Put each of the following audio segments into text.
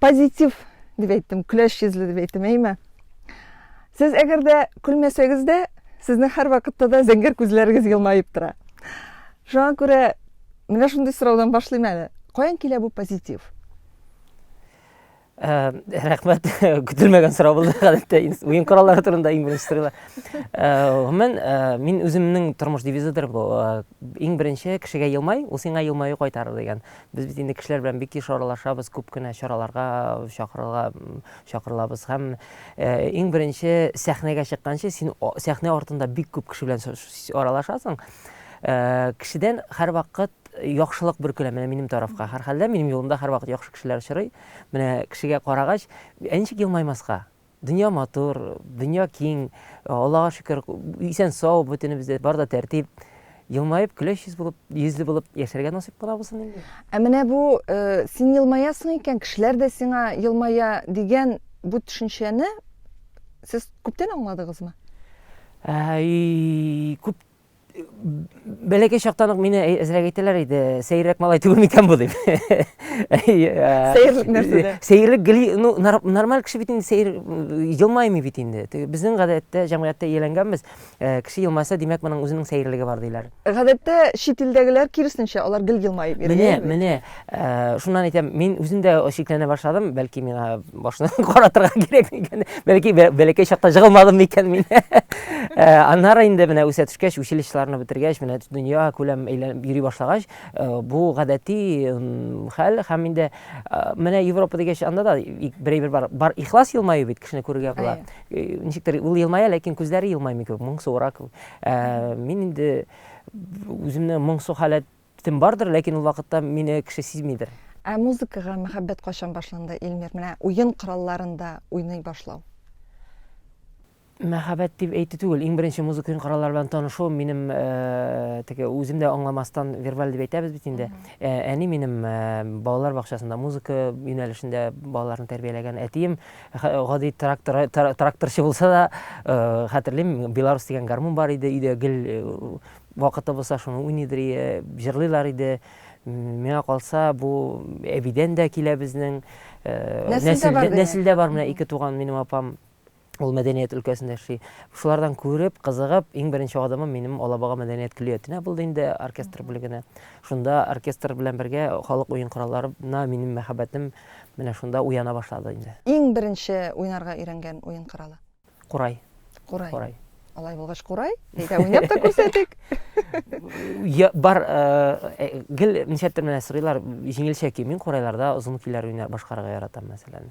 позитив дип әйттем көләч йөзле дип әйттем әйме сез әгәр дә көлмәсәгез дә сезнең һәрвакытта да зәңгәр күзләрегез елмаеп тора шуңа күрә менә шундый сораудан башлыйм әле каян килә бу позитив ә, рәхмәт көтелмәгән сорау булды гадәттә уен кораллары турында иң беренче сорыйлар гомумән ә, ә, мин үземнең тормыш девизыдыр бу ә, иң беренче кешегә елмай ул сиңа елмаю кайтарыр дигән Без бит инде кешеләр белән бик еш аралашабыз, күп кенә чараларга чакырыла, чакырылабыз һәм иң беренче сәхнәгә чыкканчы син сәхнә артында бик күп кеше белән аралашасың. Кешедән һәрвакыт яхшылык бөркелә менә минем тарафка. Һәрхәлдә минем юлымда һәрвакыт яхшы кешеләр очрый. Менә кешегә карагач, ә ничек елмаймаска? Дөнья матур, дөнья киң, Аллага шөкер, исән-сау, бөтенебездә бар да тәртип. Елмаеп, көләч йөз булып, йөзле булып яшәргә насыйп кыла булсын инде. Ә менә бу син елмаясың икән, кешеләр дә сиңа елмая дигән бу төшенчәне сез күптән аңладыгызмы? Күп Бәләкәй чактан ук мине әзрәк әйтәләр иде, сәеррәк малай түгел микән бу дип. Сәерлек нәрсәдә? Сәерлек гели, ну, нормаль кеше бит инде сәер елмаймый бит инде. Безнең гадәттә, җәмгыятьтә ияләнгәнбез, кеше елмаса, димәк, моның үзенең сәерлеге бар диләр. Гадәттә чит илдәгеләр киресенчә, алар гел елмаеп йөри. Менә, менә. Шуннан әйтәм, мин үзем дә шикләнә башладым, бәлки миңа башны каратырга кирәк микән, бәлки бәләкәй чакта җыгылмадым микән мин. Аннары инде менә үсә төшкәч, училищеларны бетергәч, менә дөнья күләм әйләнеп йөри башлагач, бу гадәти хәл һәм инде менә Европа дигәч, анда да берәйбер бар, бар ихлас елмаю бит кешене күрергә була. Ничектер ул елмая, ләкин күзләре елмаймый кебек, моңсуырак. Мин инде үземне моңсу халәт Төтен бардыр, ләкин ул вакытта мине кеше сизмидер. Ә музыкага мәхәббәт кайчан башланды, Илмир, менә уен коралларында уйный башлау? Мәхәббәт дип әйтү түгел, иң беренче музыка уен кораллары белән танышуым минем э, теге үзем дә аңламастан вербаль дип әйтәбез бит инде. Э, әни минем э, балалар бакчасында музыка юнәлешендә балаларны тәрбияләгән. Әтием гади трактор тракторчы булса да, хәтерлим, Беларус дигән гармун бар иде, өйдә гел Вакыты булса шуны уйныйдыр ие җырлыйлар иде. Миңа калса бу әбидән дә килә безнең. Нәселдә бар менә ике туган минем апам ул мәдәният өлкәсендә эшли. Шулардан күреп, кызыгып, иң беренче адымым минем Алабага мәдәният көллиятенә булды инде оркестр бүлегенә. Шунда оркестр белән бергә халык уен коралларына минем мәхәббәтем менә шунда уяна башлады инде. Иң беренче уйнарга өйрәнгән уен коралы? Курай. Курай. Курай. Алай булгач курай, әйдә уйнап та күрсәтик. Я бар э, э, гел ничәтер менә сырыйлар җиңелчә ки мин курайларда озын көйләр уйнар башкарырга яратам мәсәлән.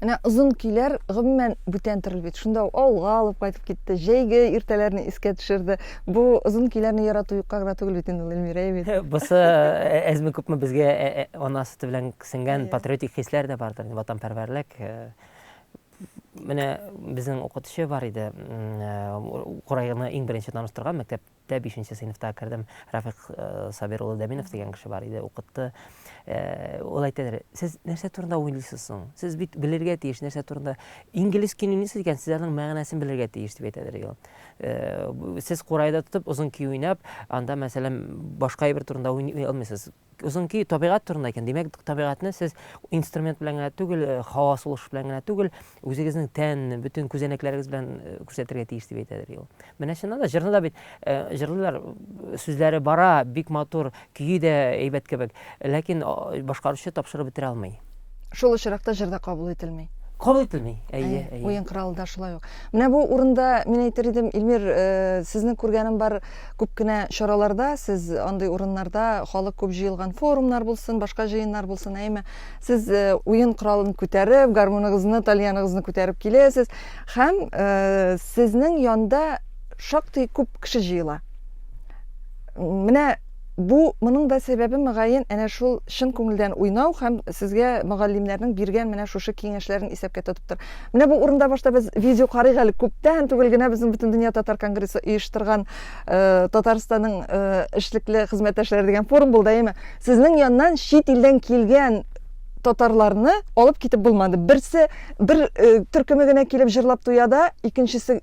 Менә озын көйләр гомумән бүтән төрле бит. Шунда ул авылга алып кайтып китте, җәйге иртәләрне искә төшерде. Бу озын көйләрне ярату юкка гына түгел бит инде ул Эльмира бит. Бусы э, әзме күпме безгә э, э, ана сөте белән сеңгән патриотик хисләр дә бардыр, ватанпәрвәрлек. Менә безнең укытучы бар иде, Курайны иң беренче таныштырган мәктәп Дә бишенче сыйныфта кердем. Рафыйк Сабир улы Дәминов дигән кеше бар иде, укытты. Ул әйтәдер, сез нәрсә турында уйлыйсыз соң? Сез бит белергә тиеш, нәрсә турында. Инглиз кини ни сүз икән, сез аның мәгънәсен белергә тиеш, дип әйтәдер иде ул. Сез курайда тотып, озын көй уйнап, анда, мәсәлән, башка әйбер турында уйный алмыйсыз. Озын көй табигать турында икән, димәк, табигатьне сез инструмент белән генә түгел, э, һава сулыш белән генә түгел, үзегезнең тән, бөтен күзәнәкләрегез белән э, күрсәтергә тиеш дип әйтәдер ул. Менә чыннан да җырны да бит э, җырлыйлар, сүзләре бара, бик матур, көе дә әйбәт кебек, ләкин башкаручы тапшырып бетерә алмый. Шул очракта җыр да кабул ителми. Кабул ителми. Әйе, әйе. Уен кыралы да шулай ук. Менә бу урында мин әйтер идем, Илмир, э, сезне күргәнем бар күп кенә чараларда, сез андый урыннарда халык күп җыелган форумнар булсын, башка җыеннар булсын, әйме, сез э, уен кыралын күтәреп, гармоныгызны, тальяныгызны күтәреп киләсез һәм э, сезнең янда шактый күп кеше җыела. Менә Бу, моның да сәбәбе, мөгаен, әнә шул чын күңелдән уйнау һәм сезгә мөгаллимнәрнең биргән менә шушы киңәшләрен исәпкә тотыптыр. Менә бу урында башта без видео карыйк әле, күптән түгел генә безнең Бөтендөнья татар конгрессы оештырган Татарстанның эшлекле хезмәттәшләре дигән форум булды, әйеме? Сезнең яннан чит илдән килгән татарларны алып китеп булмады. Берсе, бер төркеме генә килеп җырлап туя да, икенчесе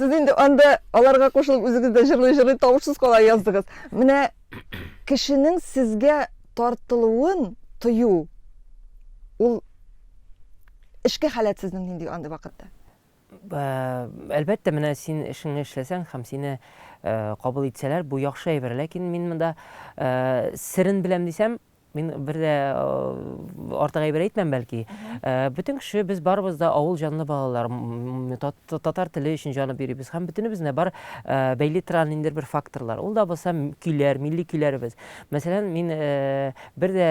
Сез инде анда аларга кушылып үзегез дә җырлый-җырлый тавышсыз кала яздыгыз. Менә кешенең сезгә тартылуын тою ул эшке халәт сезнең нинди андый вакытта? әлбәттә менә син эшеңне эшләсәң һәм сине э, кабул итсәләр бу яхшы әйбер ләкин мин монда э, серен беләм дисәм Мин бер дә артык әйбер әйтмәм бәлки. Бөтен кеше без барыбыз да авыл җанлы балалар. Татар теле өчен җаны бирибез. Һәм бөтенебезне бар бәйле торган инде бер факторлар. Ул да булса көйләр, милли көйләребез. Мәсәлән, мин бер дә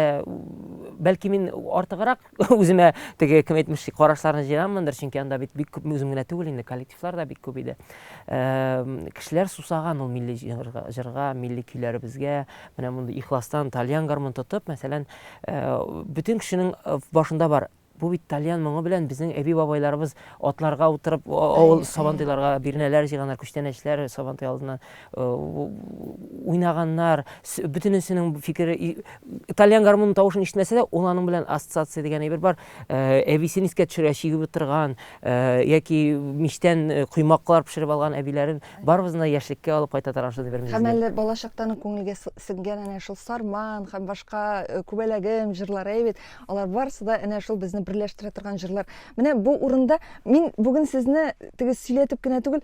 бәлки мин артыграк Үземә теге кем әйтмешли карашларны җыйганмындыр, чөнки анда бит бик күп үзем генә түгел инде, коллективлар да бик күп иде. Кешеләр сусаган ул милли җырга, җырга, милли көйләребезгә. Менә мондый ихластан тальян гармун тотып, мәсәлән, бөтен кешенең башында бар бу бит тальян моңы белән безнең әби бабайларыбыз атларга утырып авыл сабантуйларга бирнәләр җыйганнар күчтәнәчләр сабантуй алдыннан уйнаганнар, бөтенесенең фикере итальян гармонының тавышын ишетмәсә дә, ул аның белән ассоциация дигән әйбер бар. Әбисен искә төшерә, чигеп утырган, яки мичтән коймаклар пешереп алган әбиләрен барыбызны да яшьлеккә алып кайта торган шундый бер мизгел. Һәм әле балачактан күңелгә сеңгән әнә шул Сарман һәм башка Күбәләгем җырлары бит. Алар барысы да әнә шул безне берләштерә торган җырлар. Менә бу урында мин бүген сезне теге сөйләтеп кенә түгел,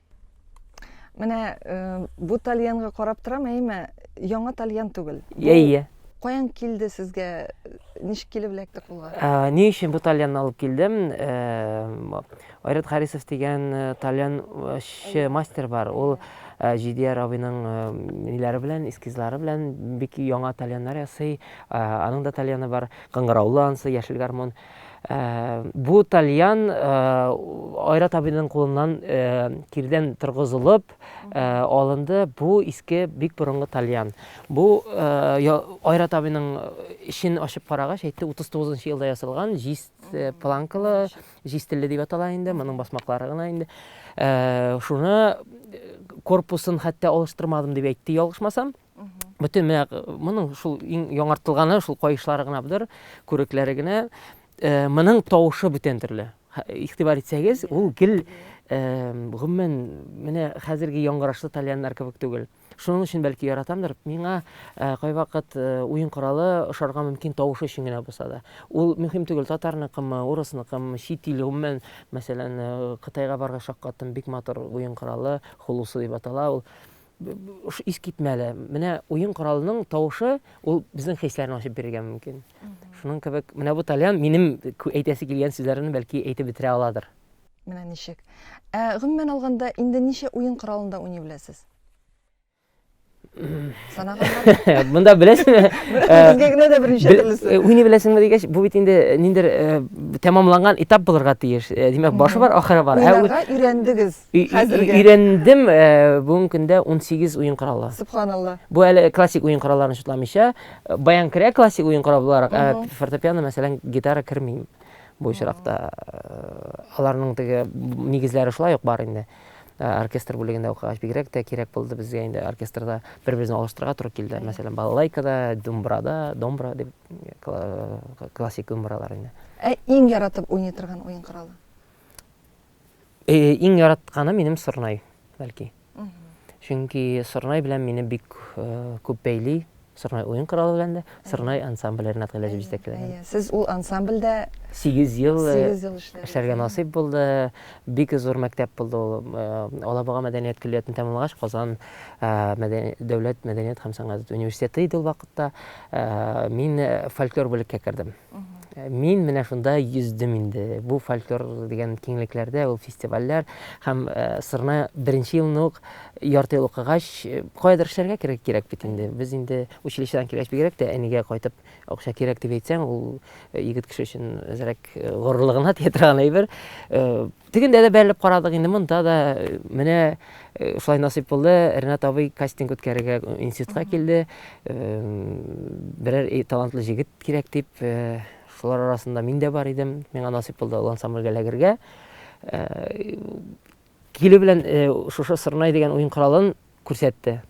Менә э, бу тальянга карап торам, әйме, яңа тальян түгел. Иә, иә. Каян килде сезгә? Ничек килеп эләкте кулга? Ә, ни өчен бу тальянны алып килдем? Ә, Айрат Харисов дигән э, тальянчы мастер бар. Ул э, Җидияр абыйның э, ниләре белән, эскизлары белән бик яңа тальяннар ясый. Ә, аның да тальяны бар. Кыңгыраулы ансы, яшел гармон. Ә, бу тальян ә, Айрат абыйның кулыннан ә, кирдән торгызылып ә, алынды. Бу иске бик борынгы тальян. Бу ә, я- Айрат абыйның эчен ачып карагач, әйтте 39 нчы елда ясалган, җиз э, планкалы, җиз телле дип атала инде, моның басмаклары гына инде. Ә, шуны э, корпусын хәтта алыштырмадым дип әйтте, ялгышмасам. Бөтен менә моның шул иң яңартылганы шул каешлары гына бдыр, күрекләре генә. Э, моның тавышы бүтән төрле. Игътибар итсәгез, ул гел э, гомумән менә хәзерге яңгырашлы тальяннар кебек түгел. Шуның өчен бәлки яратамдыр. Миңа э, кайвакыт уен коралы ошарга мөмкин тавышы өчен генә булса да. Ул мөһим түгел, татарныкымы, урысныкымы, чит ил гомумән, мәсәлән, Кытайга барга шаккаттым, бик матур уен коралы, хулусы дип атала ул. Ошо искитмәле, менә уен коралының тавышы, ул безнең хисләрне ачып бирергә мөмкин. Шуның кебек, менә бу тальян минем әйтәсе килгән сүзләрне бәлки әйтеп бетерә аладыр. Менә ничек. Ә гомумән алганда, инде ничә уен коралында уйный беләсез? Санаганнар. Монда беләсеңме? Безгә генә дә берничә төрлесе. Уйный беләсеңме дигәч, бу бит инде ниндер тәмамланган этап булырга тиеш. Димәк, башы бар, ахыры бар. Уйнарга өйрәндегез. Хәзергә. Өйрәндем, бүгенге көндә 18 уен коралы. Субханалла. Бу әле классик уен коралларын чутламыйча, баян керә классик уен корал буларак, ә фортепиано, мәсәлән, гитара кермим бу очракта. Аларның теге нигезләре шулай ук бар инде. Оркестр бүлегендә укыгач бигрәк тә кирәк булды безгә инде оркестрда бер-берсен алыштырырга туры килде. Мәсәлән, балалайкада, думбрада, домбра дип классик думбралар инде. Ә иң яратып уйный торган уен коралы? Э, иң яратканы минем сорнай, бәлки. Чөнки сорнай белән мине бик э, күп бәйли. Сорнай уен коралы белән дә, сорнай ансамбле Ренат Гыйләҗев җитәкләгән. Сез ул ансамбльдә 8 ел э, эшләргә насыйп булды. Бик зур мәктәп булды ул. Алабуга мәдәният көллиятен тәмамлагач, Казан дәүләт мәдәният һәм сәнгать университеты иде ул вакытта. Мин фольклор бүлеккә кердем. Мин менә шунда йөздем инде. Бу фольклор дигән киңлекләрдә ул фестивальләр һәм э, сырна беренче елны ук ярты ел укыгач, э, каядыр эшләргә кирәк кирәк бит инде. Без инде училищедан килгәч бигрәк тә әнигә кайтып акча кирәк дип әйтсәң, ул э, егет кеше өчен әзрәк э, горурлыгына тия торган әйбер. Э, Тегендә дә бәрелеп карадык, инде монда да менә шулай насыйп булды. Ренат абый кастинг үткәрергә институтка килде. Берәр талантлы җегет кирәк дип, шулар арасында мин дә бар идем. Миңа насыйп булды ул ансамбльгә эләгергә. Килү белән шушы Сырнай дигән уен коралын Күрсәтте.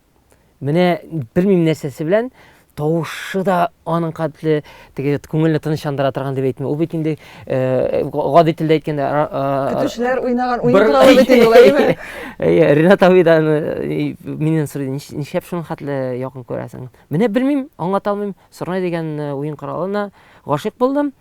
Менә белмим нәрсәсе белән тавышы да аның катле теге күңелне тынычландыра торган дип әйтмим. Ул бит инде э, гади телдә әйткәндә э, э, көтүчеләр уйнаган уен туралы бит инде болай әйме? Әйе, Ренат абый да миннән сорый, нишләп шуның хәтле якын күрәсең? Менә белмим, аңлата алмыйм. Сорнай дигән уен коралына гашыйк булдым.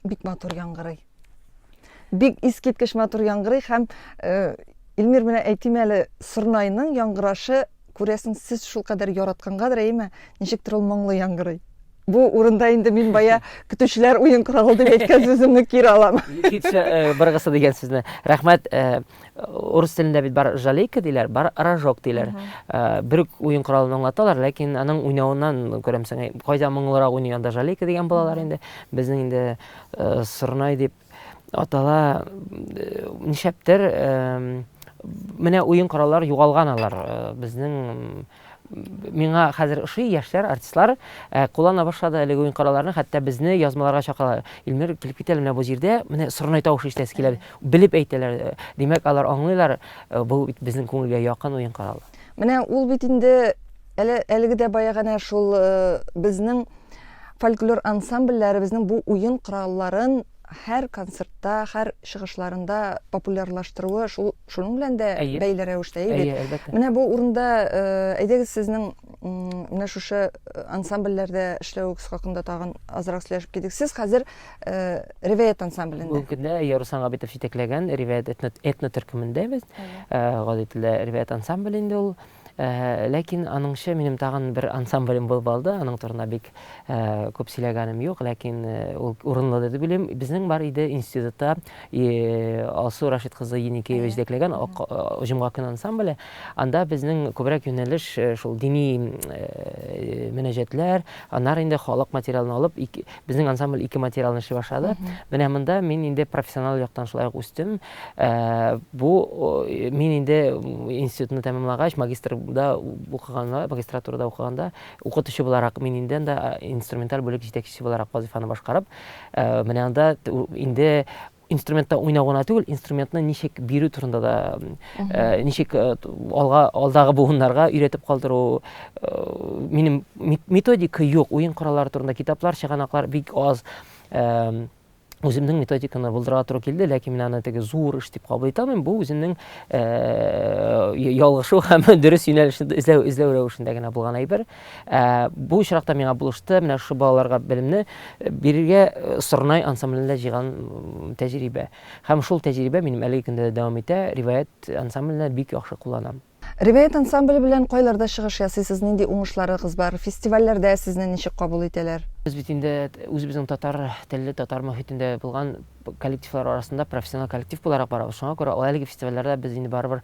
Бик матур яңгырый. Бик искиткеч матур яңгырый һәм э, Илмир менә әйтим әле, Сорнайның яңгырашы күрәсең сез шул кадәр яраткангадыр, әйме? Ничектер ул моңлы яңгырый. Бу урында инде мин бая көтүчеләр уен коралы дип әйткән сүземне кире алам. Китсә э, быргысы дигән сүзне. Рәхмәт. Э, урыс телендә бит бар жалейка диләр, бар рожок диләр. Э, бер үк уен коралын аңлаталар, ләкин аның уйнавыннан күрәмсең, э, кайда моңлырак уйный анда жалейка дигән балалар инде. Безнең инде э, сырнай дип атала э, нишәптер э, менә уен кораллар югалган алар э, безнең миңа хәзер ошый яшьләр, артистлар э, куллана башлады әлеге уен коралларны, хәтта безне язмаларга чакыралар. Илмир, килеп кит әле менә бу җирдә, менә сорнай тавышы ишетәсе килә, белеп әйтәләр. Э, Димәк, алар аңлыйлар, э, бу бит безнең күңелгә якын уен коралы. Менә ул бит инде әле әлеге дә баягана шул э, безнең фольклор ансамбльләребезнең бу уен коралларын һәр концертта, һәр чыгышларында популярлаштыруы шул Шуның белән дә бәйле рәвештә, әйе бит? Әйе, әлбәттә. Менә бу урында, э, әйдәгез сезнең менә шушы э, ансамбльләрдә эшләвегез хакында тагын азрак сөйләшеп китик. Сез хәзер э, Ревеет ансамблендә. Бүгенге көндә әйе Руслан Габитов җитәкләгән Ревеет этно-төркемендә без. Гади телдә Ревеет ансамбль инде ул. Ләкин аныңча минем тагын бер ансамблем булып алды, аның турында бик күп сөйләгәнем юк, ләкин ул урынлы дип уйлыйм. Безнең бар иде институтта Алсу Рашид кызы Еникеева җитәкләгән Җомга көне ансамбле. Анда безнең күбрәк юнәлеш шул дини мөнәҗәтләр, аннары инде халык материалын алып, Безнең ансамбль ике материалны эшли башлады. Менә монда мин инде профессионал яктан шулай ук үстем. Э, бу мин инде институтны тәмамлагач, магистрда укыганда, магистратурада укыганда, укытучы буларак мин инде анда инструменталь бүлек җитәкчесе буларак вазифаны башкарып, э, менә анда инде инструментта уйнау гына түгел, инструментны ничек бирү турында да, э, ничек э, алга алдагы буыннарга өйрәтеп калдыру. Э, минем методика юк, уен кораллары турында китаплар, чыганаклар бик аз. Э, үземнең методиканы булдырырга туры килде, ләкин мин аны теге зур эш дип кабул итә алмыйм. Бу үземнең э, ялгышу һәм дөрес юнәлешне эзләү эзләү рәвешендә генә булган әйбер. Ә, бу очракта миңа булышты менә шушы балаларга белемне э, бирергә э, Сорнай ансамблендә җыйган тәҗрибә. Һәм шул тәҗрибә минем әлеге көндә дә дәвам итә. Риваять ансамбленә бик яхшы кулланам. Риваять ансамбле белән кайларда чыгыш ясыйсыз, нинди уңышларыгыз бар, фестивальләрдә сезне ничек кабул итәләр? Без бит инде үзебезнең татар телле, татар мөхитендә булган коллективлар арасында профессионал коллектив буларак барабыз. Шуңа күрә әлеге фестивальләрдә без инде барыбер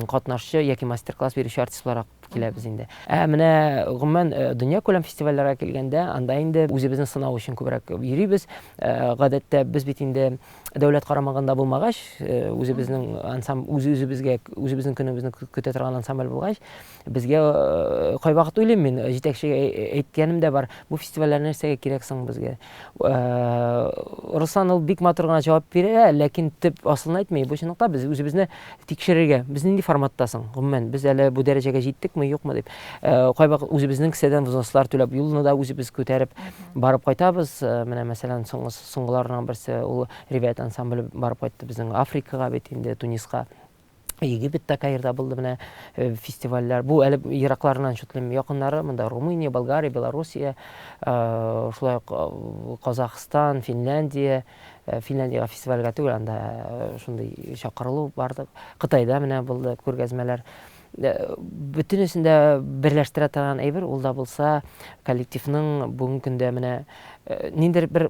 катнашчы яки мастер-класс бирүче артист буларак киләбез инде. Ә менә гомумән дөньякүләм фестивальләргә килгәндә, анда инде үзебезне сынау өчен күбрәк йөрибез. Гадәттә без бит инде дәүләт карамагында булмагач, үзебезнең ансам үз-үзебезгә үзебезнең көнебезне көтә торган ансамбль булгач, безгә кайвакыт уйлыйм мин, җитәкчегә әйткәнем дә бар, бу фестивальләр нәрсәгә кирәк соң безгә? Руслан ул бик матур гына җавап бирә, ләкин төп асылын әйтми. Бу чынлыкта без үзебезне тикшерергә, без нинди форматта соң? Гомумән, без әле бу дәрәҗәгә җиттекме, юкмы дип. Кайвакыт үзебезнең кесәдән взнослар түләп, юлны да үзебез күтәреп барып кайтабыз. Менә, мәсәлән, соңгы соңгыларның берсе ул Ревет ансамбле барып кайтты безнең Африкага бит инде, Туниска. Египетта, Каирда булды менә э, фестивальләр. Бу әле еракларыннан шутлыйм. Якыннары монда Румыния, Болгария, Белоруссия, э, шулай ук э, Казахстан, Финляндия, Финляндиягә фестивальгә түгел, анда шундый чакырылу барды. Кытайда менә булды күргәзмәләр. Бөтенесен дә берләштерә торган әйбер ул да булса коллективның бүгенге көндә менә ниндер бер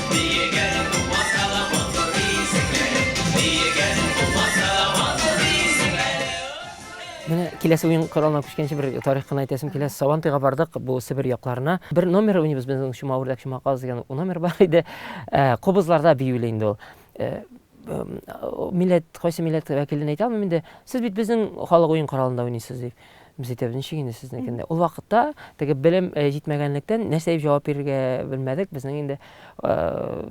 Менә киләсе уен коралына күчкәнче бер тарих кына әйтәсем килә. Сабантыйга бардык, бу Себер якларына. Бер номер уйныбыз безнең Чума үрдәк чума каз дигән номер бар иде. Кобызларда биюле инде ул. милләт, кайсы милләт вәкилен әйтә алмыйм инде, сез бит безнең халык уен коралында уйныйсыз дип. Без әйтәбез, ничек инде сезнекендә. Ул вакытта теге белем э, җитмәгәнлектән нәрсә дип җавап бирергә белмәдек. Безнең инде э,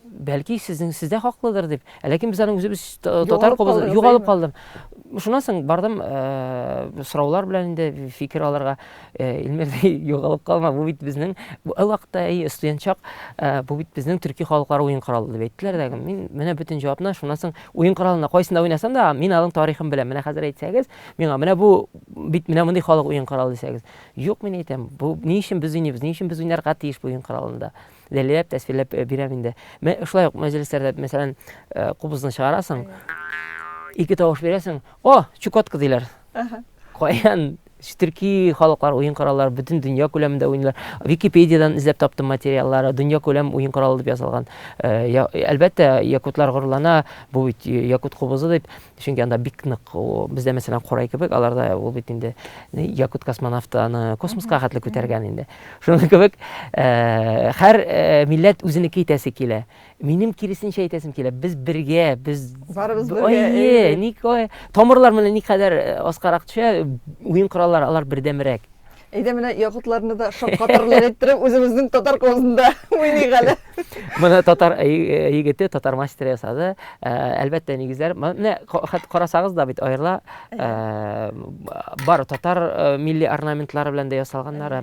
бәлки сезнең сездә хаклыдыр дип. Ә ләкин без аны үзебез та- татар Югалып кобыз калдыгыз, югалып әйеме? калдым. Шуннан соң бардым э, сораулар белән инде фикер алырга. Э, Илмир, югалып калма, бу бит безнең бу ул вакытта и студентчак, э, бу бит безнең төрки халыклар уен коралы дип әйттеләр дә. Мин менә бөтен җавапны шуннан соң уен коралында кайсында уйнасам да, мин аның тарихын беләм. Менә хәзер әйтсәгез, миңа менә бу бит менә мондый халык уен коралы дисәгез. Юк, мин әйтәм, бу ни өчен без уйныйбыз, ни өчен без уйнарга тиеш бу уен коралында. Дәлиләп, тәсвирләп э, бирәм инде. Мен шулай ук мәҗлесләрдә, мәсәлән, кубызны чыгарасың, ике тавыш бирәсең, о, чукотка диләр. Каян төрки халыклар уен кораллары бөтен дөнья күләмендә уйныйлар. Википедиядән эзләп таптым материаллары, дөнья күләм уен коралы дип язылган. Э, әлбәттә, якутлар горурлана, бу бит якут кубызы дип, чөнки анда бик нык, бездә мәсәлән корай кебек, аларда ул бит инде якут космонавты аны космоска хәтле күтәргән инде. Шуның кебек, э, һәр э, милләт үзенеке итәсе килә. Минем киресенчә әйтәсем килә, без бергә, без барыбыз бергә. Әйе, ник ой, тамырлар менә никадәр э, аскарак төшә, уен кораллары алар бердәмрәк. Әйдә менә якутларны да шаккатырлык иттереп, үзебезнең татар козында уйныйк әле. Моны татар э, э, егете, татар мастеры ясады. Э, әлбәттә, нигезләр. Менә карасагыз да бит аерыла. Бар татар милли орнаментлары белән дә ясалганнары.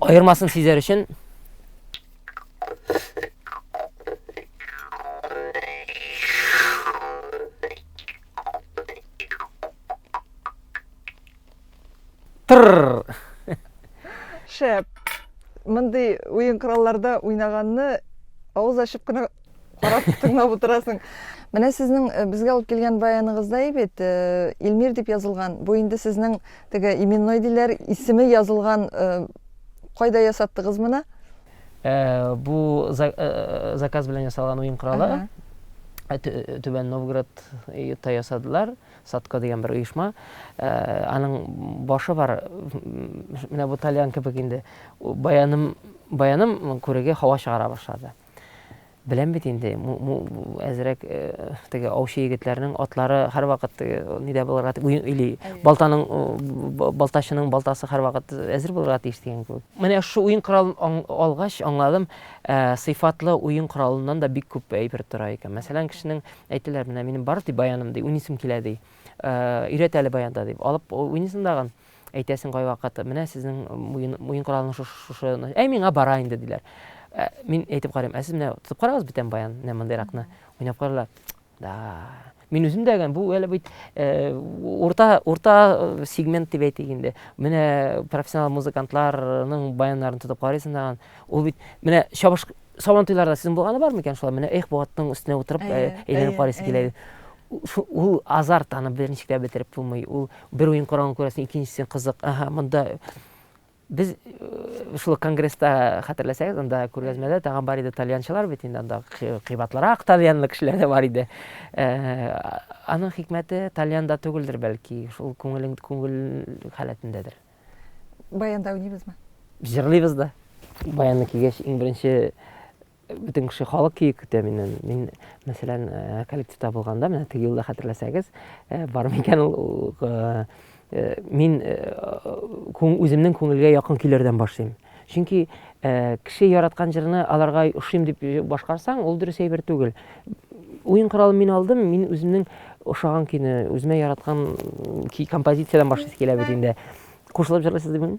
Аермасын сизәр өчен Тырр. Шәп. Мондый уен коралларда уйнаганны авыз ачып кына карап тыңлап утырасың менә сезнең э, безгә алып килгән баяныгызда бит э, илмир дип язылган бу инде сезнең теге именной диләр исеме язылган э, кайда ясаттыгыз моны бу заказ белән ясалган уен коралы түбән новгородта ясадылар садко дигән бер оешма аның башы бар менә бу тальян кебек инде баяным баяным күреге һава чыгара башлады Беләм бит инде, әзрәк э, теге аучы егетләрнең атлары һәрвакыт э, нидә булырга или балтаның э, балтачының балтасы һәрвакыт әзер булырга тиеш дигән кебек. Менә шу уен коралын алгач аңладым, сыйфатлы уен коралыннан да бик күп әйбер тора икән. Мәсәлән, кешенең әйтеләр, менә минем бар ди баяным ди, уйныйсым килә ди. Өйрәт әле баянда дип. Алып уйныйсың дагын. Әйтәсең кайвакыт, менә сезнең муен, муен коралының шушы, шушы, әй миңа бара инде, диләр. Ә, мин әйтеп карыйм, ә сез менә тотып карагыз битәм баян, менә мондыйракны. Уйнап карыйлар. Да. Мин үзем дә бу әле бит э, урта, урта э, сегмент дип әйтик инде. Менә профессионал музыкантларның баяннарын тотып карыйсың даган. Ул бит, менә чабыш, сабантуйларда сезнең булганы бар микән шулай? Менә эх, бу атның өстенә утырып, э, әйләнеп карыйсы килә. Ул азарт, аны беренче генә бетереп булмый. Ул бер уен караган күрәсең, икенчесен кызык. Аһа, монда без э, шул конгресста хәтерләсәгез, анда күргәзмәдә тагын бар иде тальянчылар бит инде анда кыйбатлырак тальянлы кешеләр дә бар иде. Э, аның хикмәте тальянда түгелдер бәлки, шул күңелең күңел халәтендәдер. Баянда уйныйбызмы? Җырлыйбыз да. Баянны кигәч, иң беренче Бөтен кеше, халык киек көтә миннән. Мин, мәсәлән, э, коллективта булганда, менә теге елда хәтерләсәгез, э, бар микән ул, э, мин үземнең күңелгә якын көйләрдән башлыйм. Чөнки кеше яраткан җырны аларга ошыйм дип башкарсаң, ул дөрес әйбер түгел. Уен коралын мин алдым, мин үземнең ошаган көйне, үземә яраткан композициядән башлыйсы килә бит инде. Кушылып җырлыйсыз димени?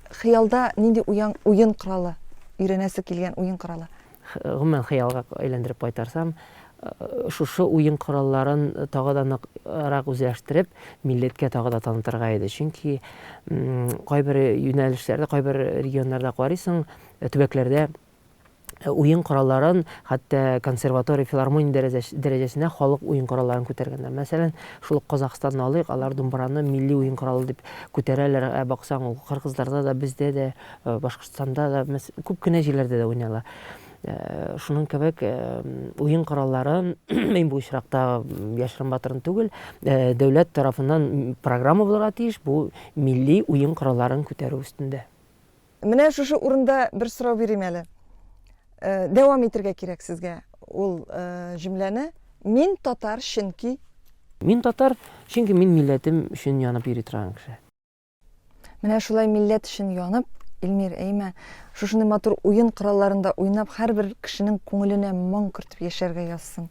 Хыялда нинди уян, уен коралы, өйрәнәсе килгән уен коралы? Гомумән, хыялга әйләндереп кайтарсам, шушы уен коралларын тагы да ныграк үзләштереп, милләткә тагы да танытырга иде. Чөнки кайбер юнәлешләрдә, кайбер регионнарда карыйсың, төбәкләрдә уен коралларын, хәтта консерватория, филармония дәрәҗәс- дәрәҗәсенә халык уен коралларын күтәргәннәр. Мәсәлән, шул ук Казахстанны алыйк, алар думбраны милли уен коралы дип күтәрәләр, ә баксаң, ул кыргызларда да, бездә дә, э, Башкортстанда да, мәс-, күп кенә җирләрдә дә уйнала. Э, шуның кебек, э, уен коралларын, мин бу очракта яшерен батырын түгел, э, дәүләт тарафыннан программа булырга тиеш, бу милли уен коралларын күтәрү өстендә. Менә шушы урында бер сорау бирим әле. Э, дәвам итергә кирәк сезгә ул э, җөмләне. Мин татар, чөнки Мин татар, чөнки мин милләтем өчен янып йөри торган кеше. Менә шулай милләт өчен янып, Эльмир, әйме, шушындай матур уен коралларында уйнап, һәрбер кешенең күңеленә моң кертеп яшәргә язсын.